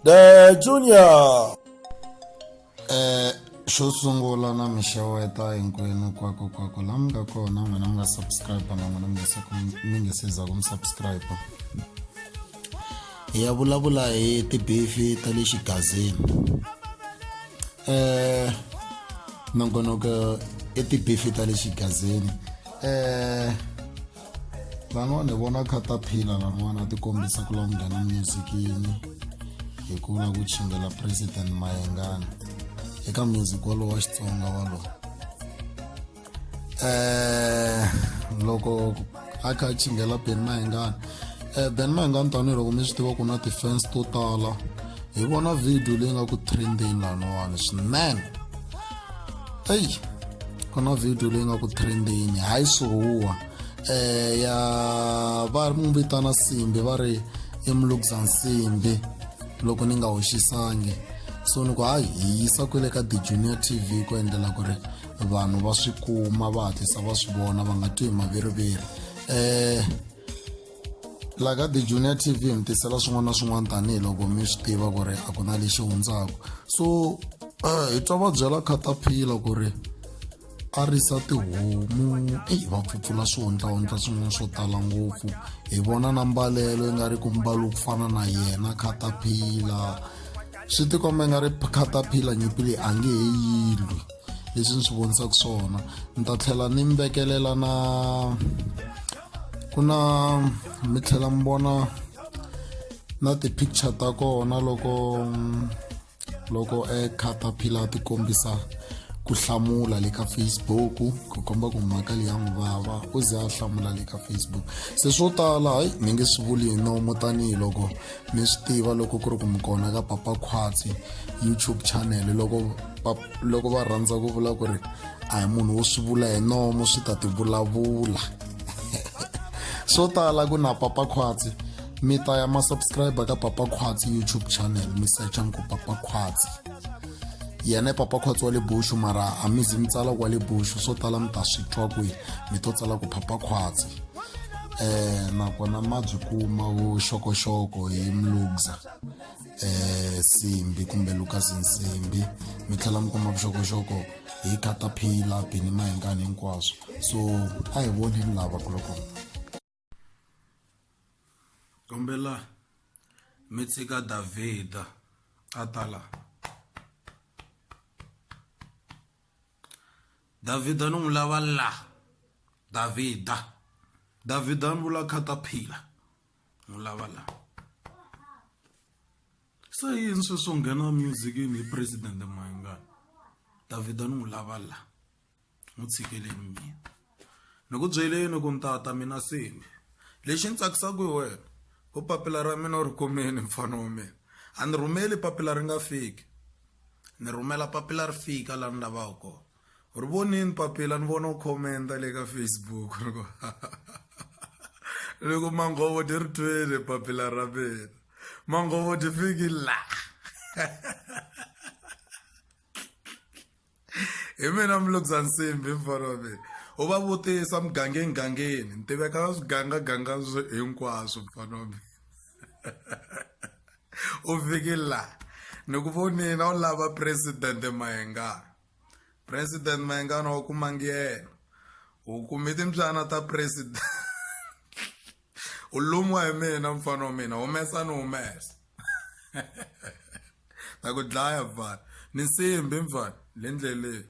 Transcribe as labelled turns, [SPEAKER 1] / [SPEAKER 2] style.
[SPEAKER 1] The Junior.
[SPEAKER 2] Eh, xo sungula na mi xeweta hinkwenu kwako kwako la mi nga kona n'wina mi nga subscribe na n'wina mi nga se mi nga se za ku mi subscribe hi ya vulavula hi tibifi ta le xigazini eh nongonoko i tibifi ta le xigazini eh van'wana hi vona kha ta phila van'wana ti kombisa ku lava nghena muzikini hi ku la ku chingela president mayengana eka music walowo wa xitsonga walowo um loko a kha a chingela ben mayengana um ben mayengana tanihiloko mi swi tiva ku na ti-fans to tala hi vona video leyi nga ku trendeni laniwani swinene eyi ku na video leyi nga ku trendini hayi suhuwa eh ya va mu vitana simbi va ri i mulukza nsimbi loko ni nga hoxisangi so ni ku hayi hi yisa kwele ka the junior tv ku endlela ku ri vanhu va swi kuma va hatlisa va swi vona va nga twi hi maviriviri um la ka the junior tv mi tisela swin'wana na swin'wana tanihiloko mi swi tiva ku ri a ku na lexi hundzaka so um hi twa va byela khataphila ku ri a risa tihomu eyi va pfutsula swihundlahundla swin'wana swo tala ngopfu hi vona na mbalelo yi nga ri ku mbalo ku fana na yena khataphila swi tikomba nga ri khataphila nyimpi leyi a nge he yilwi leswi ni swi vonisaka swona ni ta tlhela ni mi vekelela na ku na mi tlhela mi vona na ti-picture ta kona loko loko e caterpillar ti kombisa ku hlamula le ka facebook ku komba ku mhaka leyi ya n'wi vava u ze a hlamula le ka facebook se swo tala hayi ni nge swi vuli hi nomo tanihiloko mi swi tiva loko ku ri ku mi kona ka papa khwatsi youtube channel loko loko va rhandza ku vula ku ri a hi munhu wo swi vula hi nomo swi ta tivulavula swo tala ku na papa khwatsi mi ta ya masubscribe ka papa khwatsi youtube channel mi secha mi ku papa khwatsi yena i papa khwatsi wa le bushu mara a mi zi mi tsala ku wa le bushu swo tala mi ta swi twa kwihi mi to tsala ku papa khwatsi um nakona ma byi kuma vuxokoxoko hi mlugza eh Simbi kumbe Lucas Nsimbi mi tlhela mi kuma vuxokoxoko hi caterpillar bini mahingani hinkwaswo so a hi voneni lava kuloko kombela mi tshika davhida a ta la davhida ni n'wi lava la davhida davhida ni vula caterpillar n'wi lava la se yini sweswo nghena musicini hi president mayingani davhida ni n'wi lava la n'wi tshikeleni mina ni ku byeleni ku ntata mina seni lexi ni tsakisaka hi wena u papila ra mina u ri kumeni mfana wa mina a ni rhumeli papila ri nga fiki ni rhumela papila ri fika laha ni lavaka kona ri vonini papila ni vona u khomenta le ka facebook ni ku ni ku manghovo ti ri twile papila ra mina manghovo ti fiki la hi mina mulukisa nsimbi mfana wa mina u va vutisa mugangeni gangeni ni tiveka na swigangaganga hinkwaswo mfana wa mina u fiki la ni ku vonini a wu lava presidente mahengana president mayengana wa kuma ngiyena u kume timbyana ta president u lumiwa hi mina mfana wa mina humesa ni humesa ta ku dlaya mfana ni nsimbi mfana le ndleleni